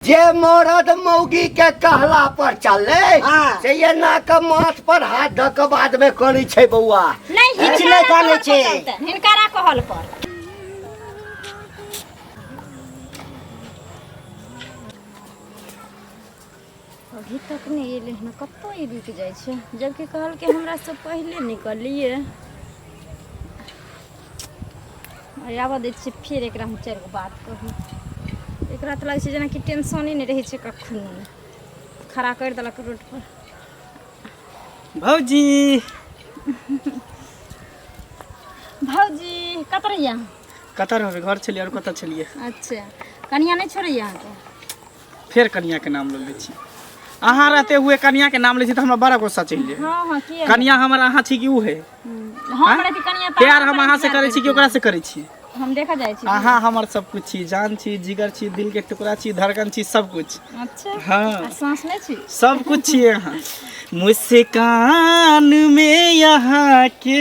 जे मरद मौगी के कहला पर चले हाँ। से ये ना के माथ पर हाथ धऽ के बाद में करी छै बौआ नहीं किछु हिनकारा नहि कहल कहै छै। पर चलतै, हिनकारा कहल पर अभी तक नहीं एले हन कतौ ई रुक जाय छै जबकि कहल के हमरा से पहले निकलिए आबऽ दै छियै फेर एकरा हम चारि गो बात कहू एकरा तऽ लागै छै जेनाकि टेंशने नहि रहै छै कखनो खड़ा करि देलक रोड पर भौजी भौजी कतऽ रहियै अहाँ? कतऽ रहबै घर छलियै आओर कतऽ छलियै अच्छा कनिया नहि छोड़ैया अहाँके फेर कनिया के नाम ले छी अहाँ रहते हुए कनिया के नाम ले छी तो हमरा बड़ा गुस्सा चल जाए हां हां के कनिया हमर अहाँ छी कि उ है हां हमरा के कनिया प्यार हम अहाँ से करे छी कि ओकरा से करे छी हम देखा जाए छी अहाँ हमर सब कुछ छी जान छी जिगर छी दिल के टुकड़ा छी धड़कन छी सब कुछ अच्छा हां सांस में छी सब कुछ छी अहाँ मुस्कान में यहाँ के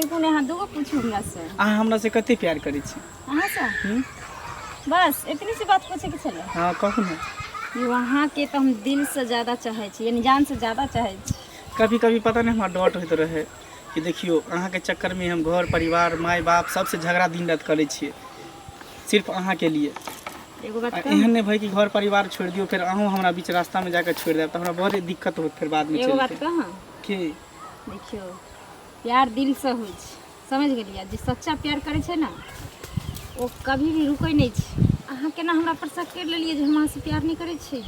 एगो ने अहाँ दूगो पूछू हमरा से अहाँ हमरा से कते प्यार करै छी अहाँ से हम्म? बस इतनी सी बात पूछे के छले हाँ कहू ने कि वहाँ के तो हम दिल से ज्यादा चाहे छी यानी जान से ज्यादा चाहे छी कभी कभी पता नहीं हमारा डॉट होते रहे कि देखियो अहाँ के चक्कर में हम घर परिवार माय बाप सबसे झगड़ा दिन रात करै छियै सिर्फ अहाँ के लिए एगो बात आ कहूँ? एहन नहि भय कि घर परिवार छोड़ि दियौ फेर अहूँ हमरा बीच रास्ता में जाकर छोड़ि देब तऽ हमरा बहुत दिक्कत होत फेर बाद में एगो चलि बात के। कहाँ के देखियौ प्यार दिलसँ होइ छै समझि गेलियै जे सच्चा प्यार करै छै ने ओ कभी भी रुकै नहि छै अहाँ केना हमरा पर शक करि लेलियै जे हम अहाँसँ प्यार नहि करै छी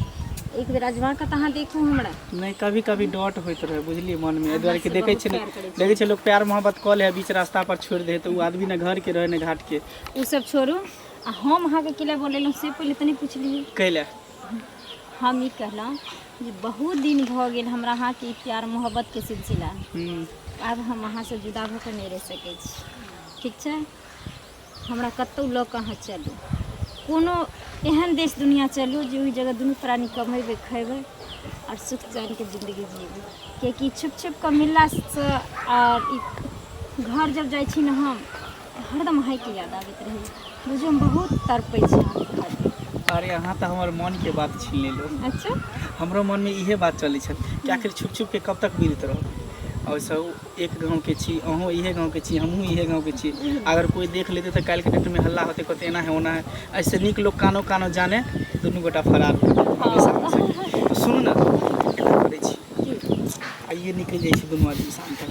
एक बेर अजमा कऽ तऽ अहाँ देखू हमरा नहि कभी कभी डॉट होइत रहे बुझलियै मन में एहि दुआरे कि देखै छै ने देखै छै लोक प्यार मोहब्बत कऽ लै बीच रास्ता पर छोड़ि दे तऽ ओ आदमी ने घर के रहे ने घाट के ओ सब छोड़ू आ हम अहाँके किला बोलेलहुँ से पहिले तनी पूछलियै कैले हम ई कहलहुँ जे बहुत दिन भऽ गेल हमरा अहाँके ई प्यार मोहब्बतके सिलसिला हम्म, आब हम अहाँसँ जुदा भऽ कऽ नहि रहि सकै छी ठीक छै हमरा कतहु लऽ कऽ अहाँ चलू कोनो एहन देश दुनिया चलू जे ओहि जगह दुनू प्राणी कमेबै खयबै आओर सुख चैनके जिन्दगी जीबै किएकि छुप छुप कऽ मिललासँ आओर ई घर जब जाइ छी ने हम हरदम अहाँके याद आबैत रहै बुझियौ हम बहुत तड़पै छी अहाँके खातिर अरे अहाँ तऽ हमर मनके बात छीन लेलहुँ अच्छा हमरो मनमे इहे बात चलै छल कि आखिर छुप छुप के कब तक बीरत रहब और सब एक गाँव के छी अहूँ इहे गाँव के छी हमहूँ इहे गाँव के छी अगर कोई देख लेते तऽ काल्हि के डेट में हल्ला होते कहते एना है ओना है ऐसे नीक लोग कानो कानो जाने दुनू गोटा फरार हो जाते हमेशा हमेशा के। तो सुनू ना एना करै छी की आइए निकलि जाइ छी दुनू आदमी शाम तक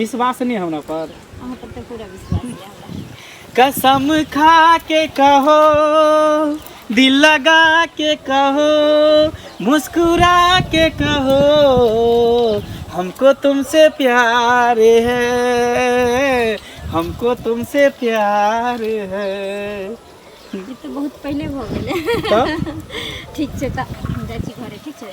विश्वास नहि हमरा पर अहाँ पर तऽ पूरा विश्वास यऽ हमरा कसम खा के कहो दिल लगा के कहो मुस्कुरा के कहो हमको तुमसे प्यार है हमको तुमसे प्यार है ई तऽ बहुत पहिले भऽ गेलै तब ठीक छै तऽ हम जाइ छी घरे ठीक छै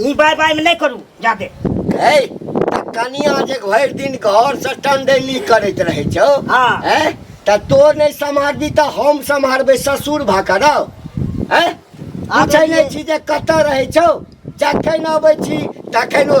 ई बाय बाय में नहीं करू जादे है तऽ कनिया जे भरि दिन घर से टंडेली करैत रहै छौ हाँ। हैं तऽ तोर नहि सम्हारबी तऽ हम सम्हारबै ससुर भऽ कऽ रौ हैं पूछै नहि छी जे कतऽ रहै छौ जखन अबै छी तखन ओ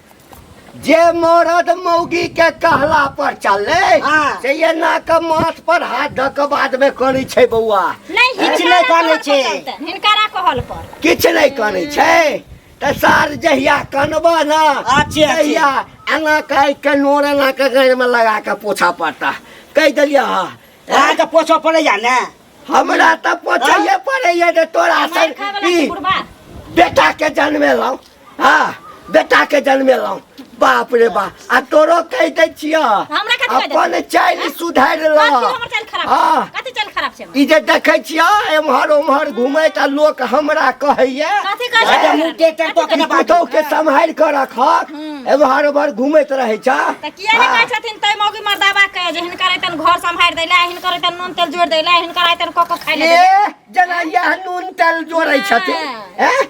जे मरद मौगी के कहला पर चले हाँ। से ये ना के माथ पर हाथ धऽ के बाद में करै छै बौआ नहीं किछु हिनकारा नहि कहल कहै छै। पर चलतै, हिनकारा कहल पर किछु नहि करै छै तऽ सार जहिया कनबा ने अच्छे, अच्छे। तहिया एना कहि के नोर एना के गाड़ि में लगा के पोछा पड़ता कहि देलियै हँ अहाँके पोछऽ पड़ैया ने हमरा तऽ पोछैये पड़ैया जे तोरा मार सन खाय वाला ई छै बुढ़बा बेटा के जन्मेलहुँ हाँ बेटा के जन्मेलहुँ बाप रे बा आ तोरो कहि दै छिय हमरा कथी कहि दै अपन चालि सुधारि कथी लह हमर चाल खराब हाँ छै कथी चाल खराब छै हमर? ई जे देखै छिय एम्हर ओम्हर घुमैत आ लोक हमरा कहैया कथी कहै छै अरे मुँह टेढ़ टेढ़ कऽ के ई ने बाजू। पुतहु के सम्हारि कऽ रखक एम्हर ओम्हर घुमैत रहै छ तऽ किया ने कहै छथिन तै मौगी मर्दाबा के जे हिनकर अइतन घर सम्हारि दै लए हिनकर अइतन नून तेल जोड़ि दै लए हिनकर अइतन कऽ कऽ खाइ लए दै लए। ए जेना इएह नून तेल जोड़ै छथिन हाँ। ए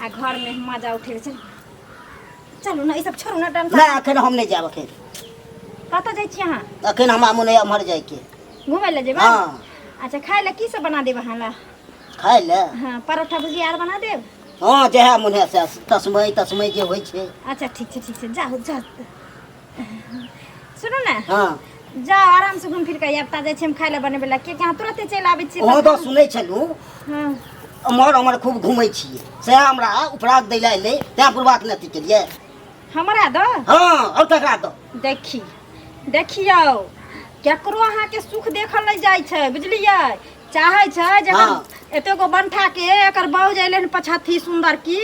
आ घर में मजा उठेबे चल चलू ना ई सब छोड़ू ना डांस नहि एखन हम नहि जायब एखन कतऽ जाइ छी अहाँ एखन हमरा मोन होइए एम्हर जायके घूमे ले जेबै हँ अच्छा खाय ले की सब बना देब अहाँ ला खाय ले हाँ परोठा भुजिया आर बना देब हँ जएह मोन होइए से तस्मै तस्मै जे होइ छै अच्छा ठीक छै ठीक छै जाउ जाउ सुनू ने हाँ जाओ आराम से घूम फिर के आब ता जाइ छी हम खाय ले बनबे ला कियाकि अहाँ तुरते चलि आबै छी अहाँ तऽ सुनै छलहुँ हाँ एम्हर ओम्हर खूब घूमै छियै सएह हमरा उपराग दै लए अयलै तैँ बुढ़बाक नहि अथी केलियै हमरा दो हँ आओर ककरा दऽ देखी देखियौ केकरो अहाँके सुख देखल नहि जाइ छै बुझलियै चाहै छै जे एकर हाँ। एतेगो बंठा के एकर बाउज अयलै हन पछाथी सुन्दर की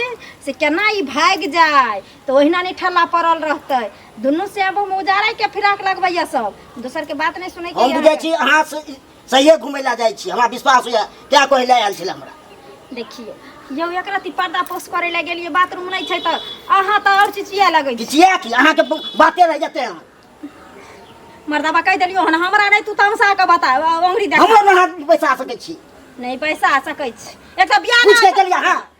से केना ई भागि जाय तऽ ओहिना नहि ठल्ला पड़ल रहतै दुनू से अब हम उजाड़ै के फिराक लगबैया सब दोसर के बात नहि सुनै के हम बुझै छी अहाँ से सहिए घुमै लए जाइ छी हमरा विश्वास होइए तैँ कहै लए आयल छलै हमरा देखियौ यौ एक रति पर्दा पोस करै लए गेलियै बाथरूम नहि छै तऽ अहाँ तऽ आओर चिचिया लगै छी चिचिया की अहाँके बाते रहि जेतै अहाँ मर्दाबा कहि देलियौ हन हमरा नहि तू तमसा के बता अंगुरी देख हमरा नहि बैसा सकै छी नहीं पैसा सकै छी एक तो बियाह पूछ के चलिए हां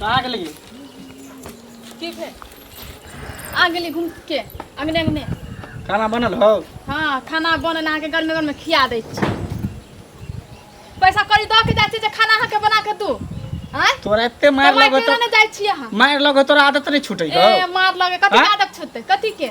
कहाँ गेली की भेल आ गेली घूम के अगने अगने खाना बनल हो हाँ खाना बनल अहाँके गर्मी गर्मी खिया दै छी पैसा कौड़ी दऽ के जाइ छी जे खाना अहाँके बना के दू आँय तोरा एते मार कमाइ लगो के तो ने जाइ छी अहाँ मार लगो तोरा आदत नहीं छूटे ए हो मार लगे कथी आँय? आदत छूटतै कथी के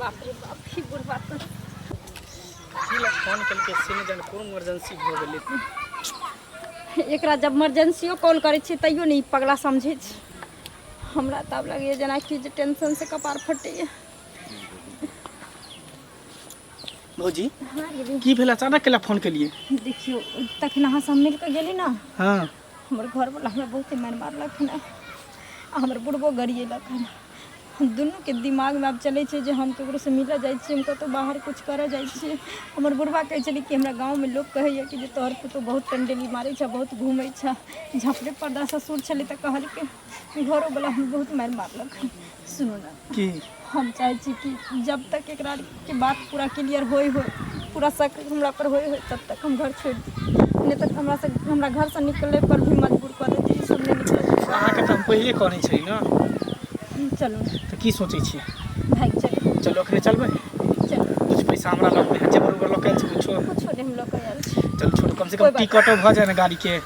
बाप रे बाप की बुढ़वा तो सीला फोन करके सीने जन कोन इमरजेंसी हो गेलै एकरा जब इमरजेंसियो कॉल करै छियै तैयो नहि ई पगला समझै छै हमरा तऽ आब लगैए जेनाकि जे टेंशनसँ कपार फटैए भौजी हाँ गेली की भेल अचानक केला फोन केलिए देखियौ तखन अहाँ सब मिल कऽ गेली ने हाँ हमर घरवला हमरा बहुते मारि मारलक हन आ हमर बुढ़बो गरिएलक हन हम दुनूके दिमागमे आब चलै छै जे हम ककरोसँ मिलऽ जाइ छियै हम कतहु बाहर किछु करऽ जाइ छियै हमर बुढ़बा कहै छलै कि हमरा गाँवमे लोक कहैए कि जे तोहर पुतहु बहुत कंडेली मारै छह बहुत घूमै छह झाँपले पर्दा ससुर छलै तऽ कहलकै घरो वाला हम बहुत मार मारलक सुनू ना की हम चाहे छी कि जब तक एकरा के बात पूरा क्लियर होई हो पूरा शक हमरा पर होई हो तब तक हम घर छोड़ दी नहीं तो हमरा से हमरा घर से निकले पर भी मजबूर कर देती कि सब नहीं निकले अहाँके तऽ हम पहिले कहने छली ना चलू ना, तऽ की सोचै छियै भाग चलू चलो अखने चलबै चलू कुछ पैसा हमरा लग में है जेबर उबर लग के कुछो कुछो नहीं हम लोग को यार चल छोड़ कम से कोई कम बात टिकटो भऽ जाए ने गाड़ी के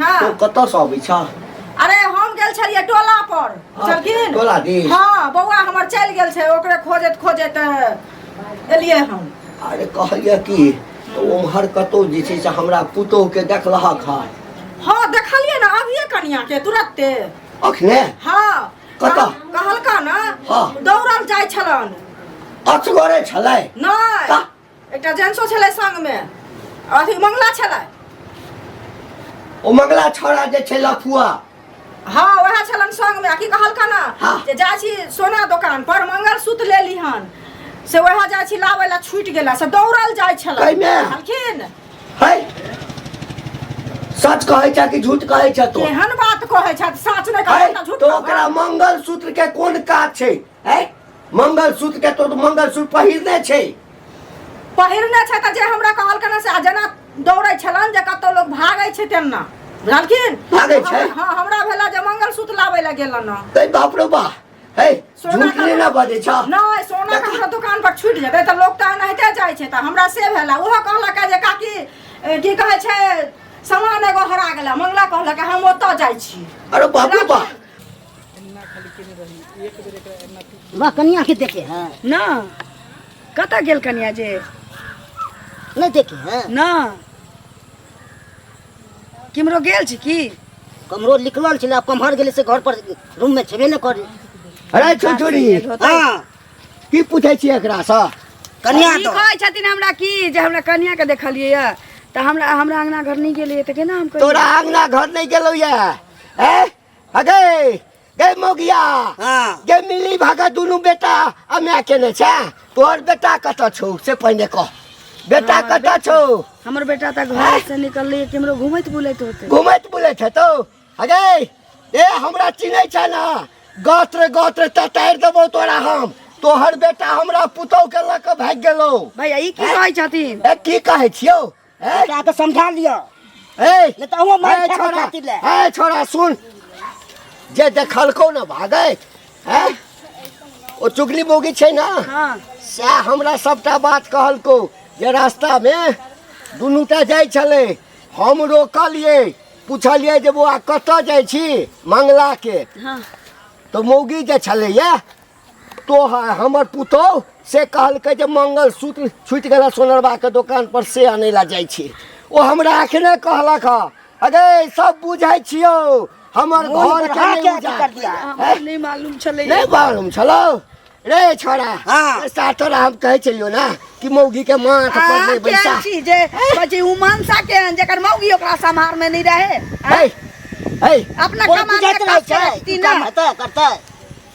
हाँ तो कतौ से अबै छ अरे हम गेल छलिए टोला पर हाँ, चलकिन टोला दी हां बौआ हमर चल गेल छै ओकरे खोजत खोजत एलिए हम अरे कहलिए कि तो ओमहर कतौ जे छै से हमरा पुतोह के देखलहक हां हां देखलिए ना अभिए कनिया के तुरंते अखने हां कतौ कहलका ना हां दौड़ल जाय छलन अचगरे छलै नै एकटा जेंट्सो छलै संगमे आ अथी मंगला छलै ओ मंगला छोड़ा जे छै लफुआ हँ वएह छलन संगमे आ की कहलका ने हँ। जे जाइ छी सोना दोकान पर मंगल सूत्र लेली हन से वएह जाइ छी लाबै ला छूटि गेला से दौड़ल जाइ छलै कहिमे? कहलखिन है सच कहै छै कि झूठ कहै छै तो केहन बात कहै छथि साँच नहि कहै है छथि, झूठ तो कहै ओकरा मंगल सूत्र के कोन काज छै है मंगलसूत्र के तो मंगलसूत्र पहिरने छै पहिरने छै तऽ जे हमरा कहलकै ने से आ जेना दौड़ै छलन जे कतौ लोग भागै छै तेना बुझलखिन भागै छै? हमरा- हँ हमरा भेला जे मंगलसूत्र लाबै लए गेलन हँ तै बाप रे बा हे सोना झूठ का- नै ना बजै छ नहि सोना ककरो दोकान पर छूटि जेतै तऽ लोक तऽ एनाहिते जाइ छै तऽ हमरा से भेला ओहो कहलक जे काकी ए, की कहै छै सामान एगो हरा गेला मंगला कहलक हम ओतऽ जाइ छी अरे बाप रे बा वाह कनिया के देखे है ना कतऽ गेल कनिया जे नहीं देखे है ना किमरो गेल छी की कमरो निकलल छले आब कम्हर गेले से घर पर रूम में छेबे ने करे अरे छुरछुरी हाँ की पूछे छी एकरा से कनिया ई तो कहै छथिन हमरा की जे हमरा कनिया के देखलियै यऽ तऽ हमरा हमरा अङ्गना घर नहि गेलियै तऽ केना हम कहियै? तोरा आंगना घर नहीं गेलो ये हैं अगे गए मोगिया हाँ गे मिली भागा दुनू बेटा आ माय केने छै तोहर बेटा कतऽ छौ से पहिने कह बेटा हमर कतऽ छौ हमर बेटा तऽ घर से निकललै केमरो घुमैत बुलैत होतै घुमैत बुलैत हेतौ अगे ए हमरा चिन्है छै ने गत्र गत्र ततारि देबौ तोरा हम तोहर बेटा हमरा पुतौह के लऽ कऽ भागि गेलौ भैया ई की कहै छथिन ए की कहै छियौ ए क्या तो समझा लियो ए नहीं तो वो मार ए, खा छोड़ा खातिर ले ए छोड़ा सुन जे देखलको न भागे ए ओ चुगली बोगी छै ना हाँ सएह हमरा सभटा बात कहलको जे रास्तामे दुनूटा जाइ छलै हम रोकलिए पुछलिए जे बौआ कतऽ जाइ छी मंगलाके हाँ तऽ मौगी जे छलैए तोहर हमर पुतौह से कहलकै जे मंगलसूत्र छुटि गेला सोनरबाके दोकानपर से आनै लए जाइ छी ओ हमरा अखने कहलक हँ अगे सब बुझै छियौ हमर घर के बढ़ा के नहि अथी कर दिया। उजाड़। हमरा नहि मालूम छलै नहि मालूम छलौ रे छोरा हाँ। ए, साथर हम कहै छलियौ ने कि मौगी के माथ पर अहाँ नहि बैसा केहन छी जे बची उमनसा केहन जेकर मौगी ओकरा सम्हार में नहीं रहे है है अपना कोइ कमाल बुझाइत के रहै काज छै करत कि कि काम ना हेतै करतै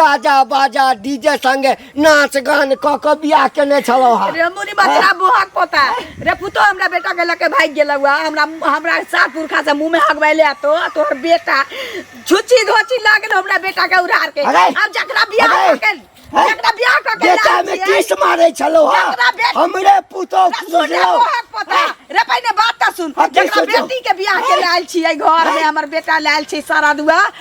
गाजा बाजा डीजे संगे नाच गान क क बियाह केने छलौ हा रे मुनि बचरा बोहक पोता रे पुतो हमरा बेटा के लके भाग गेल हुआ हमरा हमरा सात पुरखा से मुंह में हगबैले आ तो तोहर बेटा छुची धोची लागल हमरा बेटा के उड़ार के अरे! अब जकरा बियाह अरे! करके हैं? जकरा बियाह करके बेटा लाल में छियै, किस मारे छलौ हा जकरा बेट- हमरे पुतो रे सुन रे खुजलौ बोहक पोता रे पहिने बात त सुन हाँ, की जकरा सोचो? बेटी के बियाह के लायल छियै घर में हमर बेटा लायल छै सारा दुआ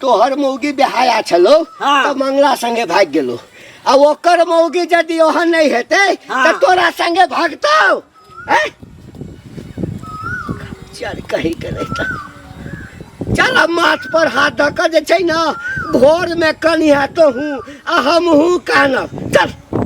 तोहर मौगी बेहाया छलो हाँ। तो मंगला संगे भाग गेलो आ ओकर मौगी यदि ओहन नहीं हेते हाँ। तो तोरा संगे भागतो हैं? चल कहीं के नहीं था चल अब माथ पर हाथ धऽ कऽ जे छै ने भोर में कनिया तो हूँ आ हम हूँ कानब चल